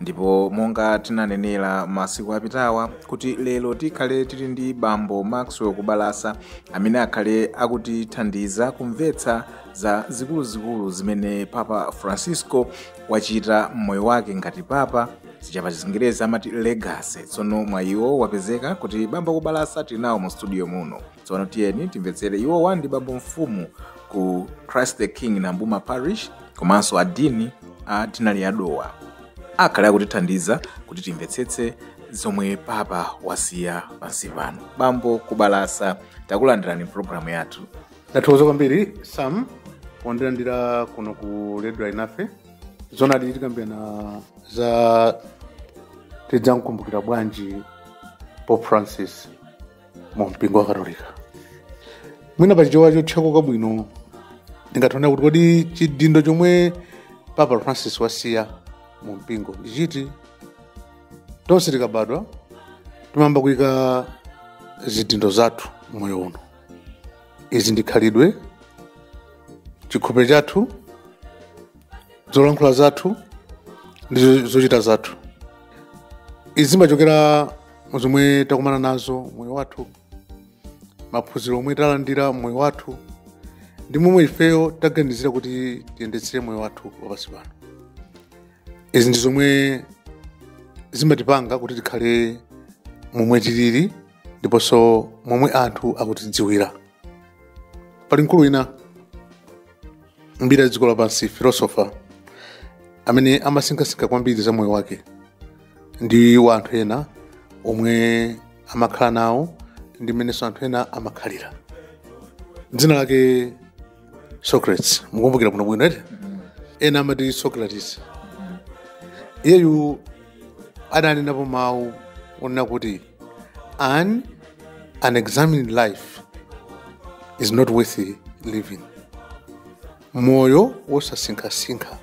ndipo monga tinanenera masiku apitawa kuti lero tikhale tili ndi bambo maxwell kubalasa amene akhale akutithandiza kumvetsa za zikuluzikulu zimene papa francisco wachita mmoyo wake ngati papa zija pachizingerezi amati legacy tsono mwayiwo wapezeka kuti bambo kubalasa tili nawo mu studio muno tsono tiyeni timvetsere iwowa ndi bambo mfumu ku christ the king nambuma parish komanso adini a dinali ya dowa akhale akutithandiza kuti timvetsetse zomwe papa wasiya pansi pano bambo kubalasa takulandirani mpulogalamu yathu ndathokoza kwambiri sam pondilandira kuno ku radio alinafe zonadi tikambirana za tidzamkumbukira bwanji pope francis mu mpingo wa katolika mwina pa chichewa chotchekuka bwino ndingathe kunena kuti kodi chidindo chomwe papa francis wasiya mu mpingo ndi chiti tonse tikabadwa timayamba kuyika zidindo zathu moyo uno izi ndi khalidwe chikhope chathu zolankhula zathu ndi zochita zathu izi zimachokera mu zomwe takumana nazo moyo wathu maphunziro omwe talandira moyo wathu ndi momwe ifeyo taganizira kuti tiyendetsere moyo wathu wapansi pano izi ndi zomwe zimatipanga kuti tikhale momwe tilili ndiponso momwe anthu akutidziwira pali mkulu wina mbiri ya dziko lapansi filosofa amene amasinkhasinkha kwambiri za moyo wake ndi wa anthu ena omwe amakhala nawo ndi mmenenso anthu ena amakhalira dzina lake socrates mukumbukira bwino bwino eti ena amati socrates iyeyu adanenapo mawu onena kuti an unexamined life is not worth living moyo wosasinkhasinkha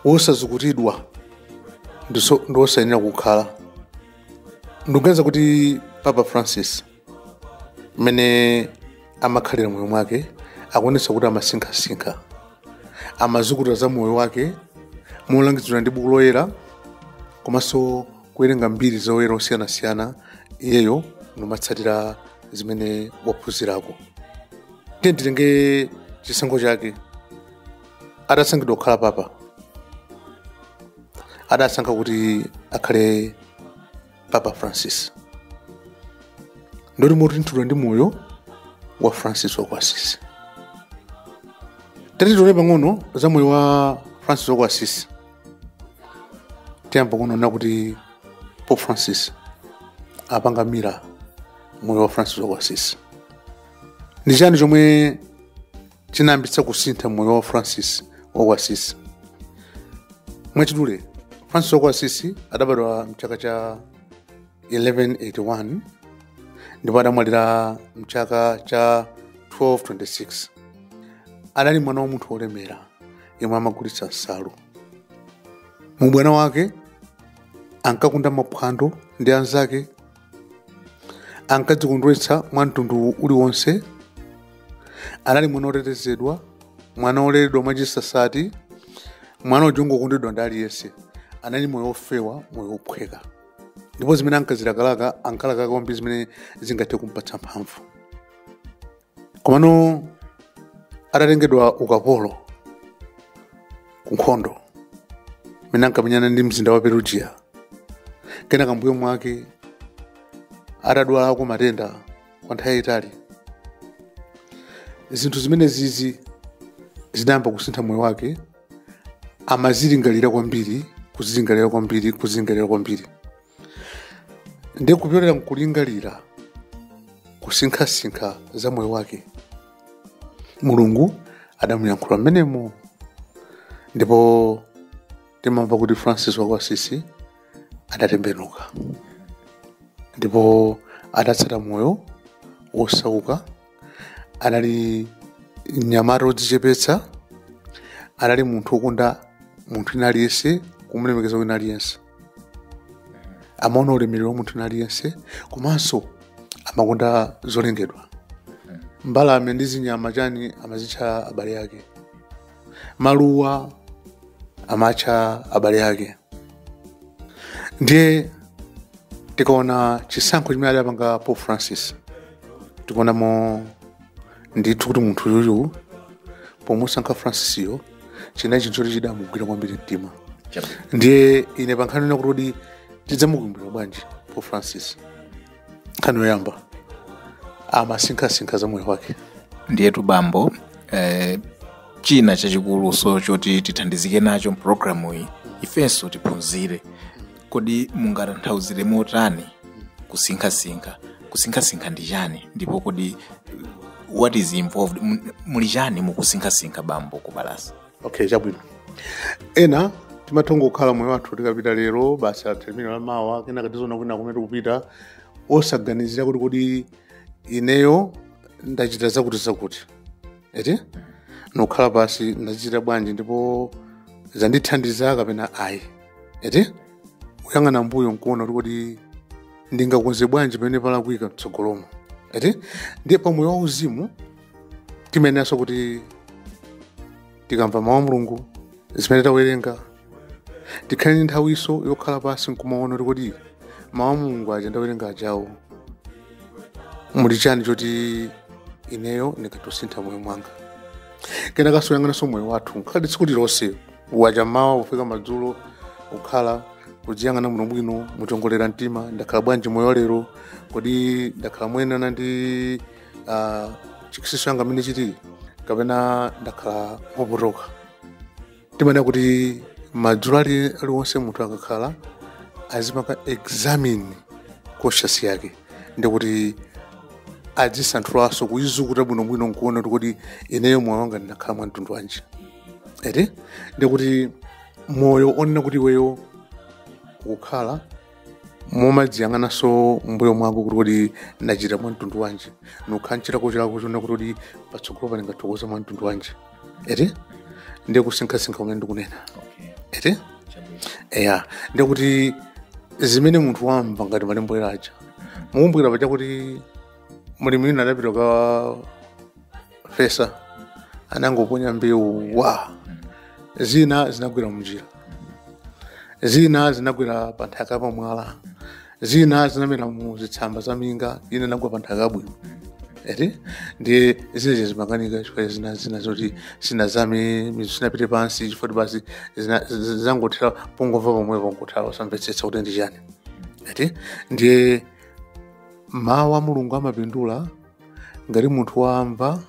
wosazukutidwa ndi wosayenera kukhala ndikuganiza kuti papa francis mmene amakhalira moyo mwake akuonetsa kuti amasinkhasinkha amazukuta za moyo wake molangizidwa ndi buku loyera komanso kuwerenga mbiri za oyera osiyanasiyana iyeyo nkumatsatira zimene waphunzirako tiye nditenge chisankho chake adasankhidwa kukhala papa adasankha kuti akhale papa francis nditi motunthidwa ndi moyo wa francis wa ku asisi tatione pang'ono za moyo wa francis wa ku asisi tiyamba kuona kuti pope francis apanga mirror moyo wa francis wa ku asisi ndi chani chomwe chinayambitsa kusintha moyo wa francis wa ku asisi mwachidule francis wa ku asisi adabadwa mchaka cha 1181 ndipo adamwalira mchaka cha 1226 adali mwana wa munthu wolemera yemwe amagulitsa nsalu mu ubwana wake ankakonda maphwando ndi anzake ankadzikondweretsa mwa mtundu uliwonse anali mwana otetezedwa mwana oleredwa mwachisasati mwana uja ongokondedwa ndi aliyense anali moyo ofewa moyo ophweka ndipo zimene ankazilakalaka ankalakaka kwambiri zimene zingathe kumpatsa mphamvu komano atatengedwa ukapolo ku nkhondo imene ankamenyana ndi mzinda wa perugia kena kambuyo mwake atadwalako matenda kwa nthawi yayitali zinthu zimenezizi zinayamba kusintha moyo wake amadzilingalira kwambiri kudzilingalira kwambiri kudzilingalira kwambiri ndi kupyolera mkulingalira kusinkhasinkha za moyo wake mulungu adamuyankhula mmenemo ndipo timamva kuti francis wa ku asisi adatembenuka ndipo adatsata moyo wosauka anali mnyamata wodzichepetsa anali munthu wokonda munthu wina aliyense kumulemekeza wina aliyense amaona ulemerero wa munthu wina aliyense komanso amakonda zolengedwa mbalame ndi zinyama chani amazitcha abale ake maluwa amatcha abale ake ndiye tikaona chisankho chimene adapanga pope francis tikuonamo ndithu kuti munthu yuyu pomusankha francisiyo chinali chinthu choti chidamugwira kwambiri mtima ndiye ine pankhani yonena kuti kodi tidzamukumbukira bwanji pope francis nkhani yoyamba amasinkhasinkha za moyo wake ndiyetu bambo eh, china chachikulunso choti tithandizike nacho mpulogalamu iyi ifenso tiphunzire kodi mungatanthauzire motani kusinkhasinkha kusinkhasinkha ndi chani ndipo kodi what is involved Mu- muli chani mukusinkhasinkha bambo kubalasa okay chabwino ena timathongo kukhala moyo wathu tikapita lero basi athemino la mawa kenaka tiziona kwina kumene tikupita osaganizira kuti kodi ineyo ndachita zakuti zakuti eti nokhala pansi ndazichita bwanji ndipo zandithandiza kapena ayi eti kuyang'ana mbuyo nkuona kuti kodi ndingakonze bwanji pamene palakwika mtsogolomo eti ndiye pamoyo wauzimu timayeneranso kuti tikamva mawu a mulungu zimene tawerenga tikhale ndi nthawinso yokhala pansi nkumaona kuti kodi mawu a mulungu aja ndawerenga ajawo muli chani choti ineyo ndingathosintha mmoyo mwanga kenakanso kuyang'ananso moyo wathu ngati tsiku lilonse kwacha mmawa kufika madzulo kukhala kudziyang'ana bwinobwino muchongolera mtima ndakhala bwanji moyo lero kodi ndakhala moyenerana ndi ah, chikristu changa mmene chilili kapena ndakhala mopotoka timanena kuti madzulo ali- aliwonse munthu akakhala azipanga examine conscience yake ndikuti adzisanthulanso kuizukuta bwinobwino nkuona kuti kodi ineyo moyo wanga ndinakhala mwa mtundu wanji eti ndikuti moyo onena kuti iweyo ukukhala mumadziyang'ananso mbuyo mwako kuti kodi ndachita mwa mtundu wanji nokhala nchilakolako choona kuti kodi patsogolo pano ndingathokonza mwa mtundu wanji eti ndiye kusinkhasinkha kumene ndikunena eti eya ndiye kuti zimene munthu wamva ngati malembo oyera aja mukumbukira paja kuti mlimi wina adapita kukafesa anangoponya mbewu zina zinagwera mnjira zina zinagwera pa nthaka pamwala zina zinamera mu zitsamba za minga ina inagwa pa nthaka yabwino eti ndiye zinazo zimakanika chifukwa zina zina zoti sinazame mizu sinapite pansi chifukwa kuti basi zina- z- zangothera pongomva pomwepo nkutha osamvetsetsa kuti ndi chani eti ndiye mawu a mulungu amapindula ngati munthu wamva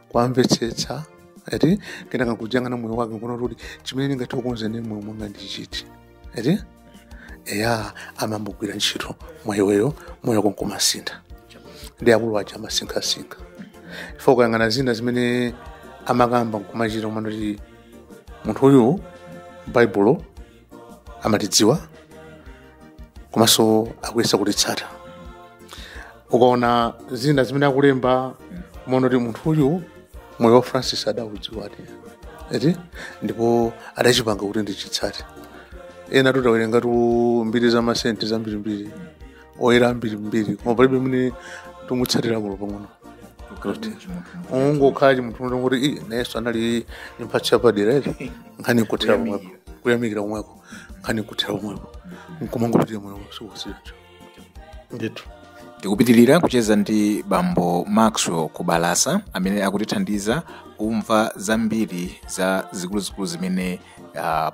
kuwamvetsetsa eti kenaka kudziyang'ana moyo wake kuona kuti chimene ndingathe kukonza mmoyo mwanga ndi chiti eti eya amayambogwira ntchito mwa iweyo moyo wako nkumasintha ndi akulu aja amasinkhasinkha chifukwa ukayang'ana zina zimene amakamba nkumachita kumaona kuti munthu uyu baibulo amalidziwa komanso akuyesa kulitsata ukaona zina zimene akulemba umaona kuti munthu uyu moyo wa francis adaudziwadi eti ndipo adachipanga kuti ndichitsate ena tidawerengatu mbiri za masenti zambirimbiri oyera ambirimbiri koma palibe mene timutsatirako olo pang'ono kuti ungokhala chimunthu munthu kuti "Ih, nayenso anali ndi mphatso yapadera eti nkhani kuthera pomwepo kuyamikira pomwepo nkhani kuthera pomwepo nkumangopitira moyo sikusicho ndithu tikupitirira kucheza ndi bambo maxwell kubalasa amene akutithandiza kumva zambiri za zikuluzikulu zimene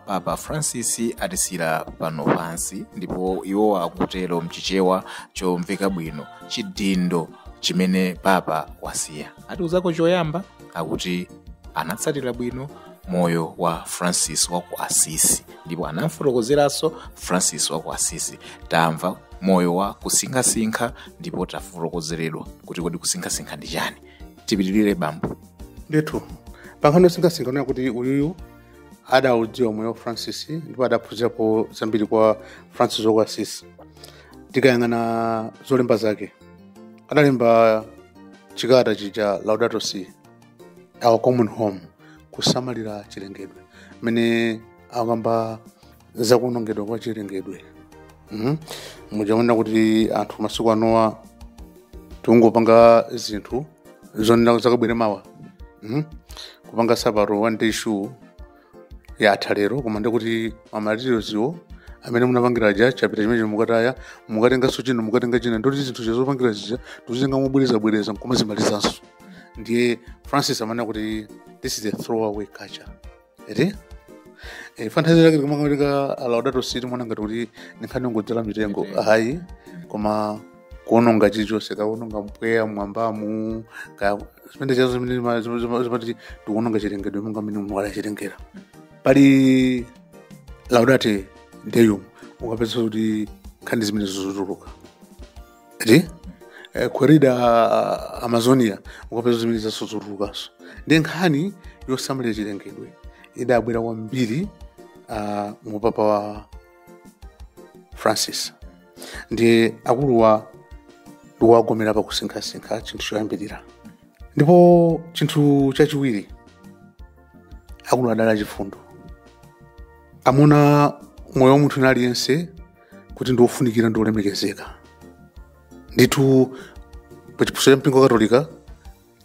papa francis atisiyira pano pansi ndipo iwo akutero mchichewa chomveka bwino chidindo chimene papa wasiya atiuzako choyamba akuti anatsatira bwino moyo wa francis wa ku asisi ndipo anamfotokozeranso francis wa ku asisi tamva moyo wa kusinkhasinkha ndipo tafotokozeredwa kuti kodi kusinkhasinkha ndi chani tipitirire bambo ndithu pankhani yosinkhasinkha unaona kuti uyuyu adaudziwa moyo wa francis ndipo adaphunzirapo zambiri kwa francis wa ku assisi tikayang'ana zolemba zake adalemba chikata chija laudato si our common home kusamalira chilengedwe mmene akamba zakuonongedwa kwa chilengedwe mm? mudzaona kuti anthu masiku anowa tikungopanga zinthu zonena zakabwere mawa mm? kupanga sapato one day shoe yatha lero koma ndikuti mamaterialswo amene munapangira aja chapita chimene mukataya mukatenganso china mukatenga china ndoti zinthu zopangira zija tuzitenga mobwerezabwereza nkumazimalizanso ndiye francis amanena kuti this is a throwaway culture eti eh, tanthauzo lake tikamati laudato si timaona ngati kuti ninkhani yongodzala mitengo ayi koma kuononga chilichonse kuononga mpweya mwambamu ka zimene chazo zimene zima- zima- zima- zimati tikuononga chilengedwe monga mmene mulungu adachilengera pali laudate deum ukapeza kuti nkhani zimene zikutuluka ri eh, querida amazonia ukapeza zimenezonso zikutulukanso ndiye nkhani yosamalira chilengedwe idabwera kwambiri uh, mu upapa wa francis ndiye akuluwa ndikuwagomera pakusinkhasinkha chinthu choyambirira ndipo chinthu chachiwiri akuluwa adali achifundo amaona moyo wa munthu aliyense kuti ndi wofunikira ndi wolemekezeka ndithu pa chiphunzitso cha mpingo wa katolika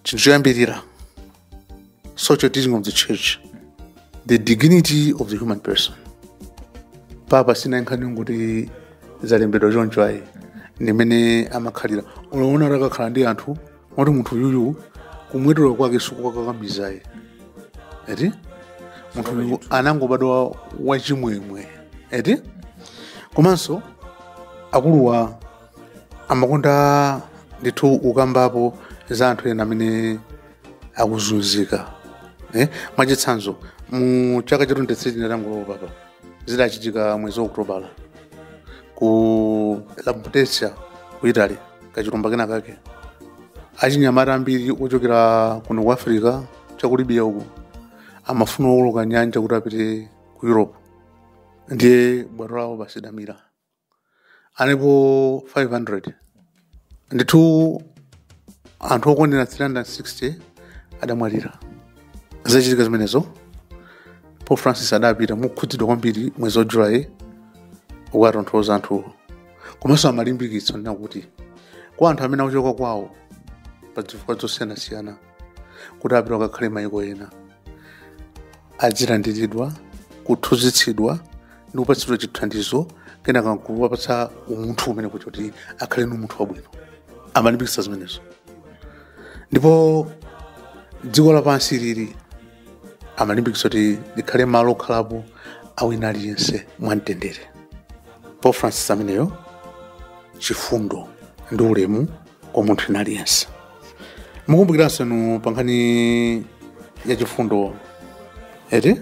chinthu choyambirira social teaching of the church the dignity of the human person papa sinali nkhani yongoti zalembedwa choncho ayi ndimene amakhalira unaona kuti akakhala ndi anthu moti munthu uyuyu kumwetulira kwake sikukwakakamizayi eti munthu uyu anangobadwa wachimwemwe eti komanso akuluwa amakonda ndithu ukambapo za anthu ena amene akuzunzika eh? mwachitsanzo mu chaka cha 23 atangolowa upapa zidachitika mwezi wa okutobala ku lampedusa ku italy kachilumba kena kake achinyamata ambiri ochokera kuno ku africa chaku libya uku amafuna kuwoloka nyanja kuti apite ku europe ndiye bwato lawo basi lidamira analipo 500 ndithu anthu okwanira 360 adamwalira zitachitika zimenezo pope francis adapita mokhudzidwa kwambiri mwezi wa julayi kukatonthoza anthuwo komanso amalimbikitsa kunena kuti kwa anthu amene akuchoka kwawo pa zifukwa zosiyanasiyana kuti apite akakhale mayiko ena adzilandiridwa kuphunzitsidwa ndi kupatsidwa chithandizo kenaka kuwapatsa umunthu umene kuti kuti akhale ni umunthu wabwino amalimbikitsa zimenezo ndipo dziko lapansi ili amalimbikitsa kuti likhale malo okhalapo a wina aliyense mwamtendere pope francis ameneyo chifundo ndi ulemu kwa munthu wina aliyense mukumbukiranso inu pankhani ya chifundo eti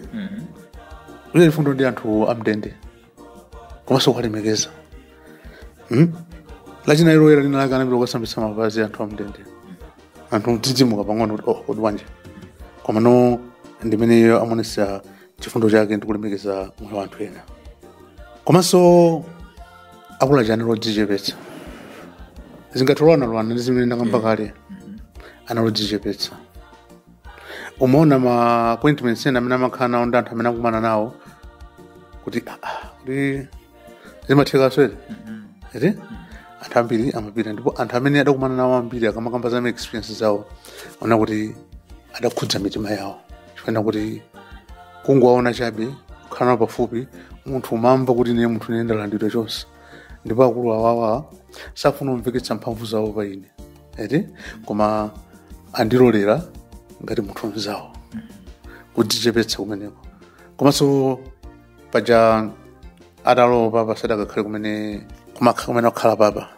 kuchita chifundo ndi anthu amdende komanso kuwalemekeza mm? lachinayi loyera linalake anapita kukasambitsa mapazi a anthu amdende anthu n'kudzidzimuka pang'ono kuti oh kodi bwanji komano ndi ameneyo amaonetsa chifundo chake ndi kulemekeza moyo wa anthu ena komanso akuluwa anali odzichepetsa zingatolowanalowana ndi zimene ndakamba kale anali odzichepetsa umaona ma appointments ena amene amakhala nawo ndi anthu amene akumana nawo kuti "Ah, ah, kuti zimatheka so eti anthu ambiri amapita ndipo anthu amene adakumana nawo ambiri akamakamba za maexperience zawo umaona kuti adakhudza mitima yawo chifukwa kuti kungowaona chabe kukhala nawo pafupi munthu umamva kuti ine munthu ine ndalandiridwa chonchi ndipo akulu awawa safuna kumveketsa mphamvu zawo pa ine eti koma andilolera ngati munthu mzawo kudzichepetsa kumeneko komanso paja atalowa upapa sadakakhale kumene kumakha kumene akhala apapa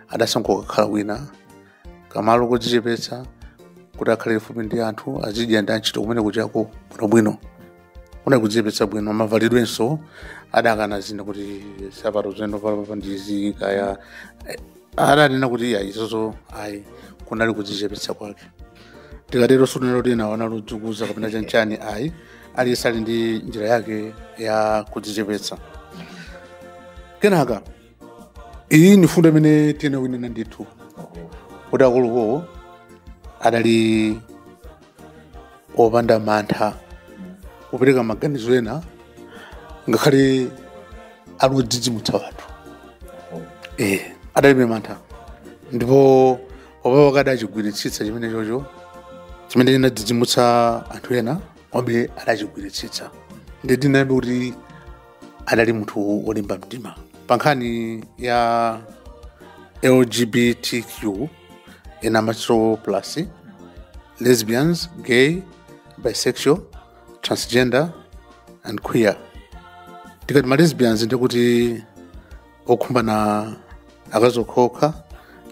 adasankha kukakhala kwina kamalo kodzichepetsa kuti akhale kufupi ndi anthu azidya ndi antchito kumene kuchako bwinobwino kunali kudzichepetsa bwino mavalidwenso adakana zina kuti nsapato zovala apapa ndizi kaya adanena kuti iya izozo ayi kunali kudzichepetsa kwake tikatero sikunena kuti enawo anali odzikuza kapena chanchani ayi aliyense ali ndi njira yake ya kudzichepetsa kenaka iyi ni fundo imene tiyenera kuinena ndithu kuti akuluakuluwo adali opanda mantha kupereka maganizo ena ngakhale ali odzidzimutsa anthu eh, adalibe mantha ndipo papa akati adachigwiritsitsa chimenecho chimene chinadzidzimutsa anthu ena komabe adachigwiritsitsa nde ndinenabe kuti adali munthu wolimba mtima pa nkhani ya lgbtq ena amatchula plus lesbians gay bisexual transgender and queer tikati ma lesbians ndikuti okhumbana akazi okhaokha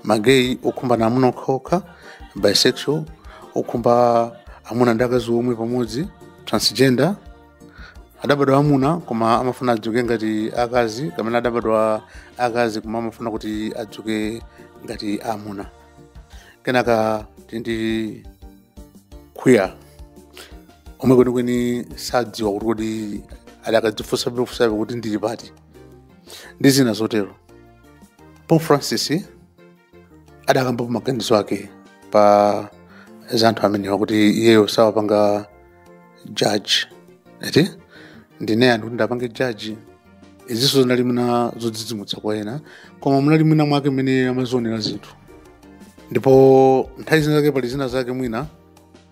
magay okhumbana amuna okhaokha bisexual okhumba amuna ndi akazi omwe pamodzi transgender adabadwa amuna koma amafuna azioneka ngati akazi kapena adabadwa akazi koma amafuna kuti azioneka ngati amuna kenaka tili ndi queer omwe kwenikweni sadziwa kuti kodi adakadzifunsabefunsabe kuti ndili pati ndi zina zotero pope francis adakambapo maganizo ake pa za anthu amenewa kuti iyeyo sawapanga judge eti ndine ndani kuti ndiwapange judge izinso zinali mwina zodzidzimutsa kwa ena koma munali mwina mwake mmene amadzionera zinthu ndipo nthawi zina zake pali zina zake mwina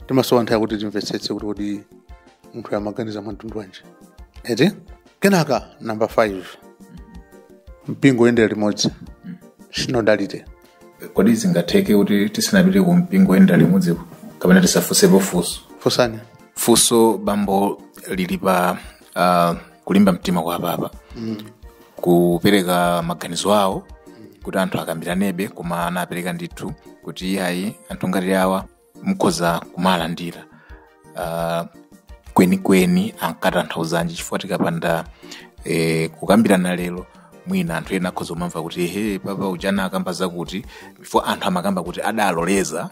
timasowa nthawi kuti timvetsetse kuti kodi munthu amaganiza mwa mtundu wanji eti kenaka namba 5 mpingo oyendera limodzi sinodalite kodi zingatheke kuti tisanapite ku mpingo oyendera limodzi kapena tifunsepo funso funsani funso bambo lili pa uh, kulimba mtima kwa papa mm. kupereka maganizo awo kuti anthu akambiranebe koma anapereka ndithu kuti iyayi anthu ngati awa mukhoza kumawalandira uh, kwenikweni ankatanthauzanji chifukwa tikapanda eh, kukambirana lero mwina anthu ena akhoza kumamva kuti he papa uja anakamba zakuti before anthu amakamba kuti adaloleza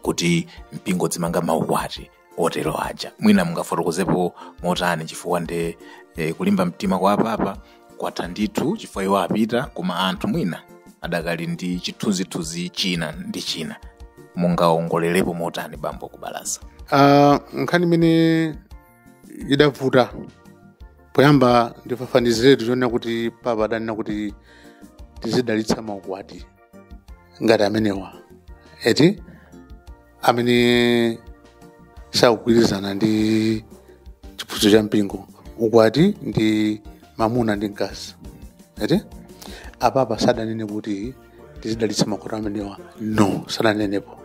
kuti mpingo udzimanga maukwati otero aja mwina mungafotokozepo motani chifukwa nde eh, kulimba mtima kwa apapa kwatha ndithu chifukwa iwo apita koma anthu mwina adakali ndi chithunzithunzi china ndi china mungaongolerepo motani bambo kubalasa Ah, nkhani imene idavuta poyamba ndifafaniziretu chonena kuti papa adanena kuti tizidalitsa maukwati ngati amenewa eti amene sakugwirizana ndi chiphunzitso cha mpingo ukwati ndi mamuna ndi mkazi eti apapa sadanene kuti tizidalitsa maukwati amenewa no sadanenepo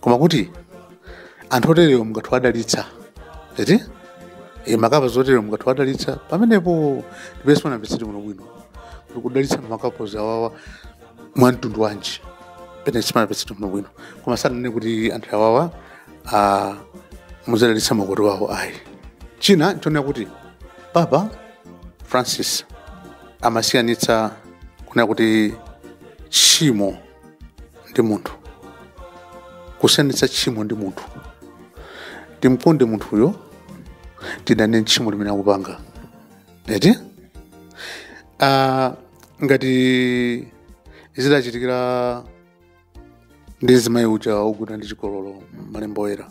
koma kuti anthu oterewo mungathe kuwadalitsa eti e, makapozi oterewa mungathe kuwadalitsa pamenepo ndi pamene sipanamvetsereke bwinobwino kuti kudalitsa makapozi awawa mwa mtundu wanji pamene sipanamvetsereke bwinobwino koma sadanene kuti anthu awawa ah, muzadalitsa maukwati awo ayi china nchonena kuti papa francis amasiyanitsa kunena kuti tchimo ndi munthu kusiyanitsa tchimo ndi munthu timkonde munthuyo tidane tchimo limene akupanga eti Ah, ngati zidachitikira ndi mzimayi uja ogwidwa ndi chigololo m'malembo oyera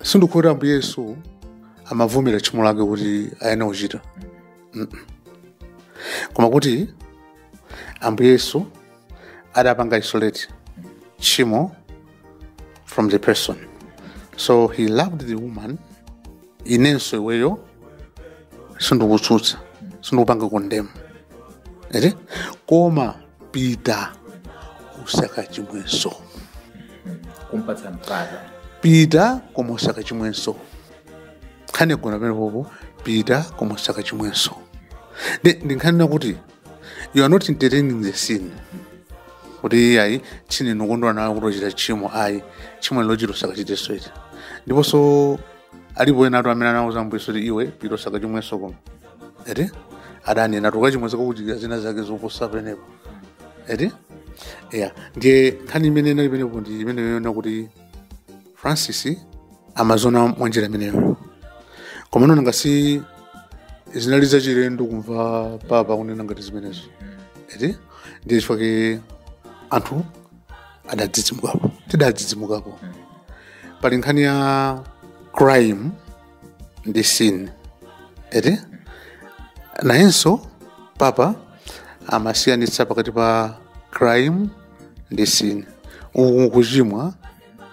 sikuti ambuye yesu amavomera tchimo lake kuti ayenera kuchita Mm-mm. koma kuti ambuye yesu adapanga isolate tchimo from the person so he loved the woman inenso iweyo sindikutsutsa sindikupanga condemn eti koma pita usakachimwenso kumpatsa mpata pita koma usakachimwenso nkhani yagona pamenepopo pita koma usakachimwenso ndiye ndi nkhani yakuti you are not entertaining the sin kuti ayi ndine wokondwa nawe kuti wachita tchimo ayi tchimo wachita usakachitenso eti ndiponso alipo enatu amene anawauza ambuye yesu kuti iwe pita usakachimwenso koma eti adanena kuti ukachimwenso zikakuchitikira zina zake zoposa pamenepo eti ya ndiye nkhani imene inali pamenepo ndi imeneyo yonena kuti francis amaziona mwanjira imeneyo komano nanga si zinali zachilendo kumva papa kunena ngati zimenezo eti ndiye chifukwa ke anthu adadzidzimukapo tidadzidzimukapo pali nkhani ya crime ndi sin eti nayenso papa amasiyanitsa pakati pa crime ndi sin uku kuchimwa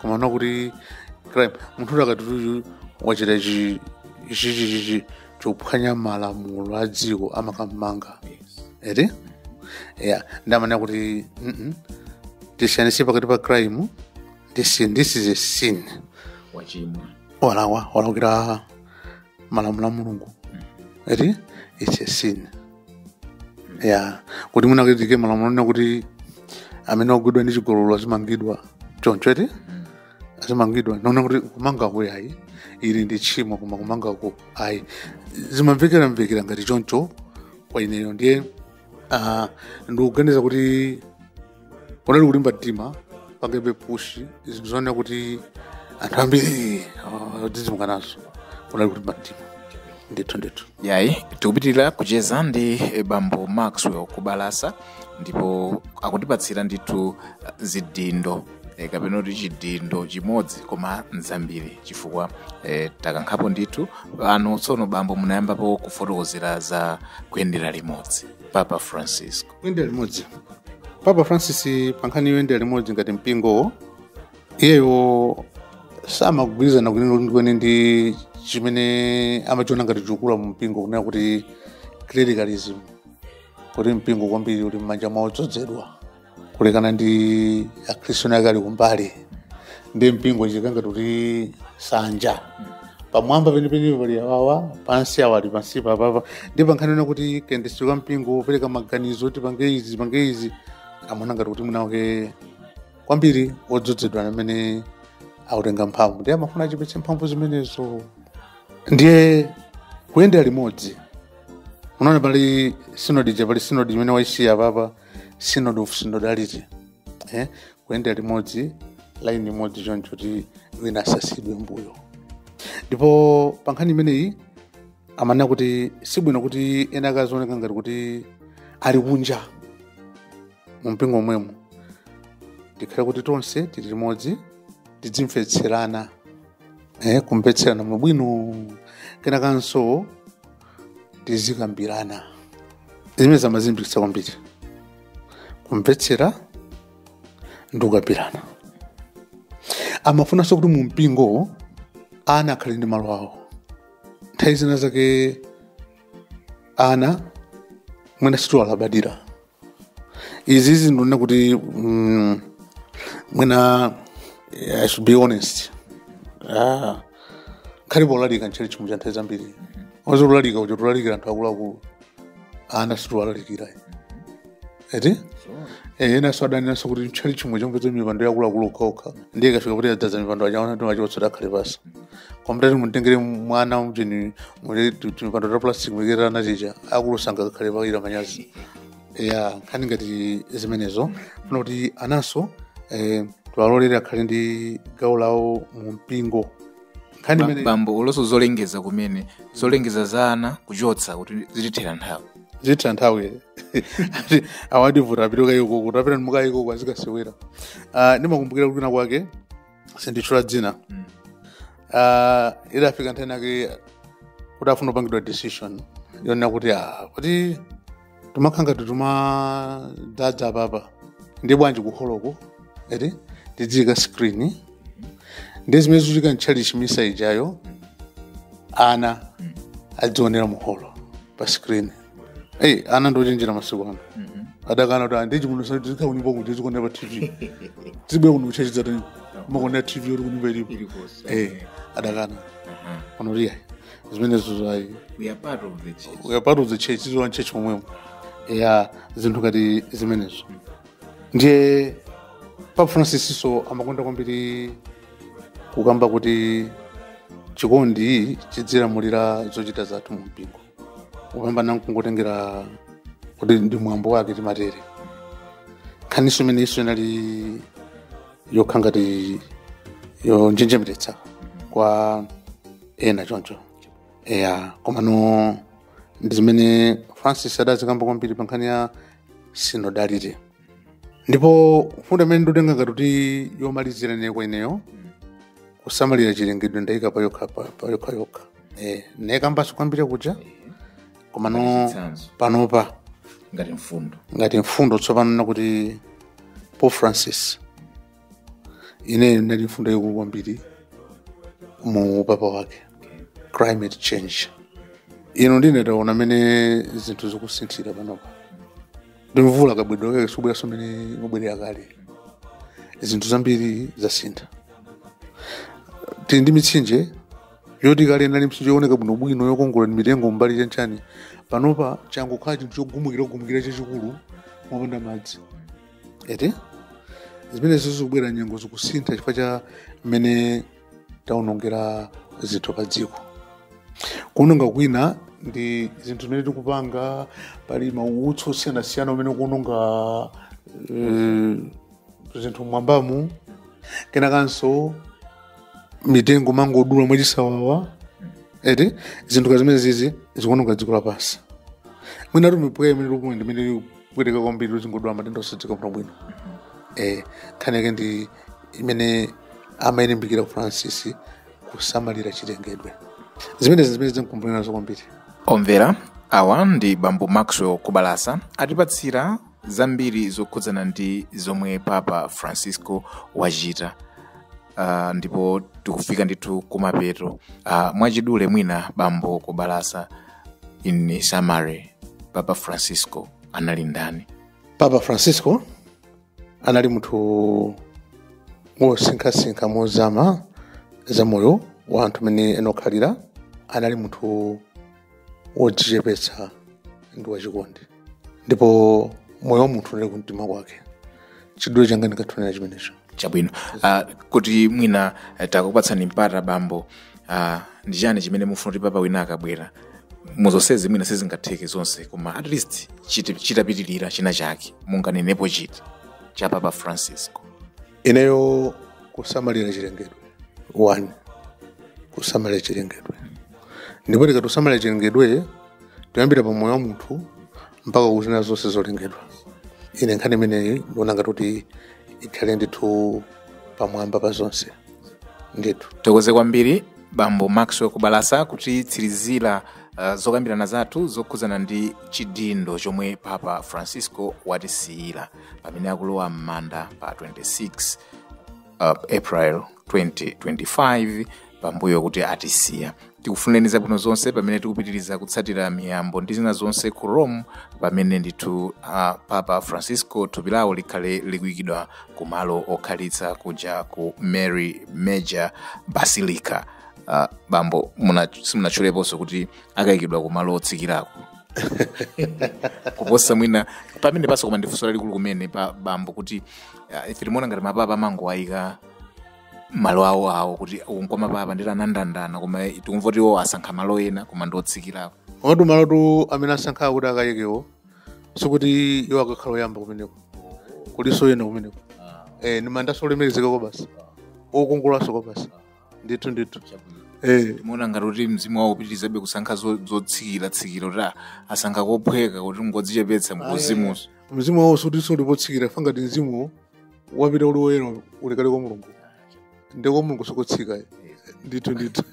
komano kuti crime munthu kuti akati uyu wachita chi- chi- chi- chi- chi- chophwanya malamulo a dziko amakammanga eti ya ndiye amanena kuti mm -mm. tisiyanitse pakati pa crime ndi sin this is a sin wachimwa walakwa walakwira malamulo a mulungu eti it's a sin ya kuti mwina kuikidwe malamulo onena kuti amene wagwidwa ndi chigololo azimangidwa choncho eti azimangidwa ndaona kuti kumangako ayi ili ndi tchimo koma kumangako ayi zimamvekeramvekera ngati choncho kwa ineyo ndiye Ah, ndikuganiza kuti kunali kulimba mtima pangabe push zinthu zoonera kuti anthu ambiri ah, adzidzimuka nazo kunali kulimba mtima ndithu ndithu yayi tikupitiriza kucheza ndi eh, bambo maxwell kubalasa ndipo akutipatsira ndithu eh, zidindo e, kapena kuti chidindo chimodzi koma nzambiri chifukwa e, takambapo ndithu pano tsono bambo munayambapo kufotokozera za kuyendera limodzi papa francisco kuyendera limodzi papa francis pankhani yoyendera limodzi ngati mpingo iyeyo samagwirizana kwenikweni ndi chimene amachiona ngati chikukula mu mpingo kumene akuti clericalism kuti mpingo kwambiri uli m'manja mwa odzozedwa kulekana ndi akhristu eni ake ali kumbali ndiye mpingo ukhala ngati nsanja pamwamba penipeni pali awawa pansi awa ali pansi papapa ndiye pankhani yonena kuti kayendetsedwe ka mpingo opereka maganizo kuti tipange izi tipange izi amaona ngati kuti mwina mwake kwambiri odzozedwa amene akutenga mphamvu ndiye amafuna achepetse mphamvu zimenezo ndiye kuyendera limodzi unaona pali sinodi ija pali sinodi imene waisiya papa synod on synodality eh? kuyendera limodzi laini imodzi choncho kuti wina asasiyidwe mbuyo ndipo pa nkhani imeneyi amanena kuti sibwino kuti ena akaziwoneka ngati kuti ali kunja mu mpingo momwemo tikhale kuti tonse tili limodzi tidzimvetserana eh, kumvetserana mwabwino kenakanso tizikambirana zimene amalimbikitsa kwambiri kumvetsera ndi kukambirana amafunanso kuti mu mpingo ana akhale ndi malo awo nthawi zina zake ana mwina sitiwalabadira izizi ndinene kuti mm, mwina i should be honest ah, kaya polalika m'tchalitchimu nthawi zambiri onse tikalalika timalalikira anthu akuluakulu ana sitiwalalikira eti Eh, enanso adanenanso kuti m'tchalitchimu chomvetsa mipando ya akuluakulu okhaokha ndiye ikafika kuti yadzadza mipando ana ona timawachotsa takhale pansi koma titati mutengere mwana mchechi muli timipando ta plastic mulikira natija akulusanga kakhale pakira manyazi ya nkhani ngati zimenezo funa kuti ananso eh, tiwalolere akhale ndi gawo lawo mu mpingo nkhani Ba- imene bambo olonso zolengeza kumene zolengeza za ana kuchotsa kuti zitithera nthawi zitha nthawi Ati awa ativuta apite kayikoko tapita mukayikoko azikasewera Ah, ndimakumbukira kwina kwake sinditchula dzina Mm. Ah, idafika nthawi yake kuti afuna kupangidwa decision yonena kuti ah, kuti timathinana timadzadza apapa ndi bwanji kuholoko eti tidziyika screen ndi zimene zikuchitika m'tchalitchi misa ijayo ana azionera muholo pa screen eyi ana ndochenjera masiku ano adakana kuti andichi muno sati tikakhala kunyumba kuja tikuonera pa tv tibwera kuno kuchechi zatani kumaonera tv yoti kunyumba ilipo Ilikosa. eyi adakana Aha. sanayifune zimenezo zayi We are part of the church. we are part of the church ifeso mu church momwemo ya zinthu ngati zimenezo ndiye papa Francisnso amakonda kwambiri kukamba kuti chikondi chidzilamulira zochita zathu mu mpingo kupambana kungotengera kuti ndi mwambo wake timatere nkhaniso imene iso inali yokha ngati yonjenjemeretsa kwa ena choncho eya komano ndi zimene Francis adazikamba kwambiri pa nkhani ya synodality ndipo mfundo imene ndikutenga ngati kuti yomalizira ine kwa ineyo kusamalira chilengedwe ndayika payokha pa- payokha yokha eh, nayikambanso kwambiri kuja komano Chitsanzo. panopa ngati mfundo ngati mfundo tsopano nakuti Pope Francis inenso inali mfundo yaikulu kwambiri mu upapa wake climate change ino ndiye taona mmene zinthu zikusinthira panopa ndi mvula kabweredwe kake sikubweranso mmene imabwerera kale zinthu zambiri zasintha tili ndi mitsinje yoti kale inali mtsinje yooneka bwinobwino yokongola ndi mitengo mbali chanchani panopa changokhala chinthu chogumukira gumukira chachikulu mopanda madzi eti zimenezo zikubwera nyengo zikusintha chifukwa cha mmene taonongera zinthu pa dziko kuononga kwina ndi zinthu zimene tikupanga pali mautsi osiyanasiyana amene akuononga eh, zinthu m'mwambamu kenakanso mitengo timangodula mwachisawawa eti zinthu ngati zimenezizi zikuononga dziko lapansi mwinatu mipweya imene tikuona imene kupweteka kwambiri uzingodwala matenda osadziwika bwino bwino eh nkhani yake ndi imene amayilimbikira ku francis kusamalira chilengedwe zimenezi zimene ndizimkumbukira nazo kwambiri omvera awa ndi bambo maxwell kubalasa atipatsira zambiri zokhudzana ndi zomwe papa francisco wachita uh, ndipo tikufika ndithu kumapeto uh, mwachidule mwina bambo kubalasa in summary papa francisco anali ndani papa francisco anali munthu wosinkhasinkha mozama za moyo wa anthu mmene akukhalira anali munthu wodzichepetsa ndi wachikondi ndipo moyo wa munthu unali kumtima kwake chidule changa ndingathe kunena chimenecho chabwino uh, kuti mwina eh, takupatsani mpata bambo uh, ndi chani chimene mufuna kuti papa wina akabwera muzonsezi mwina sizingatheke zonse koma at least chiti- chitapitirira china chake munganenepo chiti cha papa francisco ineyo kusamalira chilengedwe one kusamalira chilengedwe ndipo tikati kusamalira chilengedwe tikuyambira pa moyo wa munthu mpaka ku zina zonse zolengedwa ine nkhani imeneyi ndiona ngati kuti ikhale ndithu pamwamba pa zonse ndithu tithokoze kwambiri bambo maxwell kubalasa kutitsirizira uh, zokambirana zathu zokhudzana ndi chidindo chomwe papa francisco watisiyira pamene akulowa m'manda pa 26 uh, april 2025 pambuyo kuti atisiya tikufunireni zabwino zonse pamene tikupitiriza kutsatira miyambo ndi zina zonse ku rome pamene ndithu uh, papa francisco thupi lawo likhale likuyikidwa ku malo okhalitsa kuja ku mary major basilica uh, bambo simunatchuleponso kuti akayikidwa ku malo otsikirako kuposa mwina pamenepanso koma ndi funso lalikulu kumene pa bambo kuti ah, ife timaona ngati mapapa amangowayika malo awo awo kuti uku nkwa mapapa ndiye anandandana koma tikumva kuti iwo asankha malo ena koma ndi otsikirako komatu malotu amene asankhawo kuti akayikewo sikuti iwo akakhala oyamba kumeneko kulinso ena kumeneko eh, ndi mandanso olemekezeka kwabasi okongolanso kwabasi ndithu ndithu eh timaona ngati kuti mzimu wawo upitirizabe kusankha zo- zotsikiratsikira kuti ah, asankha kophweka kuti ngodzichepetsa kuuzimunso mzimu wawo sikutinso uli potsikira chifukwa ngati mzimu wapita uli woyera uli kale kwa mulungu ndiye kwa mulungu si kotsika ndithu ndithu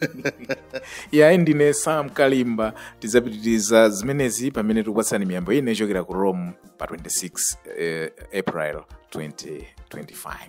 yayi ndine sam kalimba tidzapitiriza zimenezi pamene tikupatsani miyambo imene ichokera ku rome pa 26 eh, april 2025